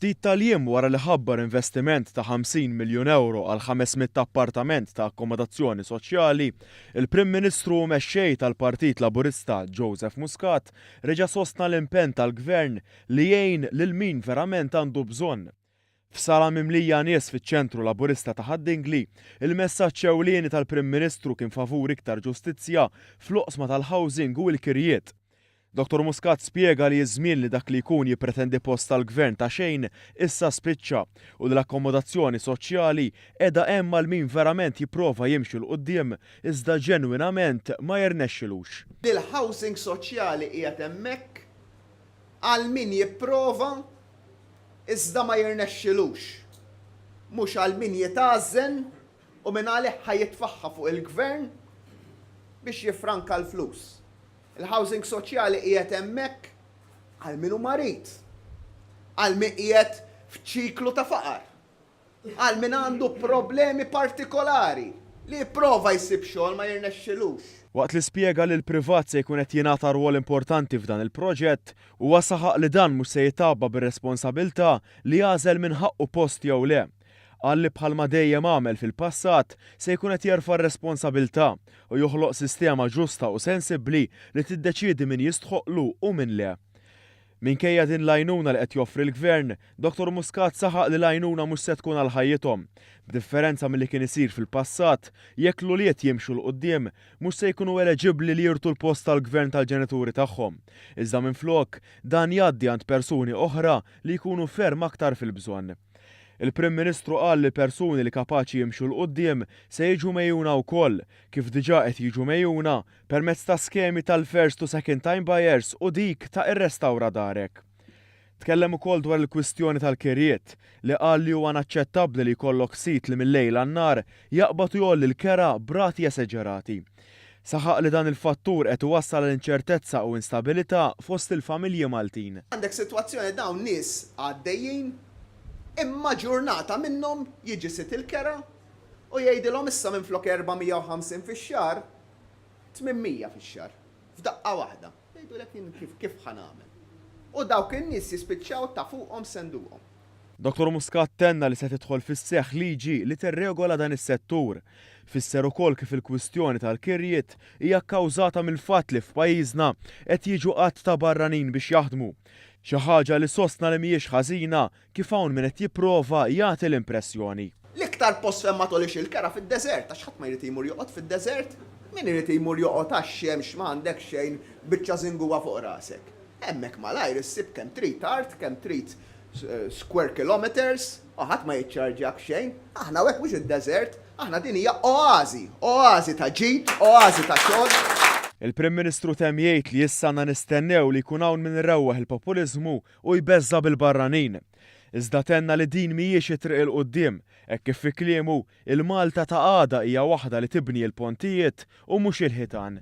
Ftit tal-jiem wara li ħabbar investiment ta' 50 miljun ewro għal 500 appartament ta' akkomodazzjoni soċjali, il-Prim Ministru u Mexxej tal-Partit Laburista Joseph Muscat reġa' sostna l-impenn tal-Gvern li jgħin lil min verament għandu bżonn. F'sala mimlija nies fiċ-Ċentru Laburista ta' Ħad-Dingli, il-messaġġ ewlieni tal-Prim Ministru kien favur iktar ġustizzja fl-oqsma tal-housing u l-kirjiet. Dottor Muscat spjega li ż-żmien li dak li jkun jippretendi post tal-Gvern ta' xejn issa spiċċa u li l-akkomodazzjoni soċjali qiegħda hemm għal min verament jipprova jimxi 'l quddiem iżda ġenwinament ma jirnexxilux. Li l-housing soċjali qiegħed hemmhekk Għal min jipprova, iżda ma jirnexxilux. Mhux għal min jitgħażżen u mingħalih ħa jitfaħħa fuq il-Gvern biex jiffranka l-flus. Il-housing soċjali qiegħed hemmhekk għal min hu marid, għal min qiegħed f'ċiklu ta' faqar. Għal min għandu problemi partikolari, li jipprova jsib xogħol ma jirnexxilux. Waqt li spjega li l-privat se jkun qed jingħata rwol importanti f'dan il-proġett, huwa saħaq li dan mhux se jitgħabba bir-responsabilità li jagħżel min ħaqqu post jew le. Qal li bħalma dejjem għamel fil-passat, se jkun qed jerfa' r-responsabilità u joħloq sistema ġusta u sensibbli li tiddeċiedi min jistħoqqlu u min le. Minkejja din l-għajnuna li qed joffri l-Gvern, Dottor Muscat saħaq li l-għajnuna mhux se tkun għal ħajjithom. B'differenza milli kien isir fil-passat, jekk l-ulied jimxu 'l quddiem, mhux se jkunu eleġibbli li jirtu l-post tal-gvern tal-ġenituri tagħhom. Iżda minflok, dan jgħaddi għand persuni oħra li jkunu ferm aktar fil-bżonn. Il-Prim Ministru qal li l-persuni li kapaċi jimxu 'l quddiem se jiġu megħjuna wkoll, kif diġà qed jiġu megħjuna, permezz ta' skemi tal-First to Second Time Buyers u dik ta' Irrestawra Darek. Tkellem ukoll dwar il-kwistjoni tal-kirjiet, li qal li huwa naċċettabbli li jkollok sit li mil-lejl għan-nhar jaqbad u jgħolli l-kera b'rati eseġerati. Saħaq li dan il-fattur qed iwassal għal inċertezza u instabilità fost il-familji Maltin. Għandek sitwazzjoni dawn nies għaddejjin, imma ġurnata minnhom jiġi sit il-kera u jgħidilhom issa minflok 450 fix-xahar, 800 fix-xahar, f'daqqa waħda. Jgħidulek jien kif, kif ħa nagħmel. U dawk in-nies jispiċċaw ta' fuqhom senduqhom. Dottor Muscat tenna li se tidħol fis-seħħ liġi li tirregola dan is-settur. Fisser ukoll kif il-kwistjoni tal-kirjiet hija kkawżata mill-fatt li f'pajjiżna qed jiġu għadd ta' barranin biex jaħdmu. Xi ħaġa li sostna li mhijiex ħażina Kif hawn min qed jipprova jagħti l-impressjoni. L-iktar post fejn ma tgħolix il-kera fid-deżert għax ħadd ma jrid jmur joqgħod fid-deżert. Min irid jmur joqgħod għax-xemx ma għandek xejn, biċċa żingugħa fuq rasek. Hemmhekk malajr issib kemm trid art, kemm trid square kilometres u ħadd ma jiċċarġjak xejn. Aħna hawn hekk mhux id-deżert, aħna din hija oażi, oażi ta' ġid, oażi ta' xogħol. Il-Prim Ministru temm jgħid li issa għandna nistennew li jkun hawn min irewweħ il-populiżmu u jbeżża' bil-barranin. Iżda tenna li din mhijiex it-triq 'il quddiem, hekk kif fi kliemu, il-Malta ta' għada hija waħda li tibni l-pontijiet u mhux il-ħitan.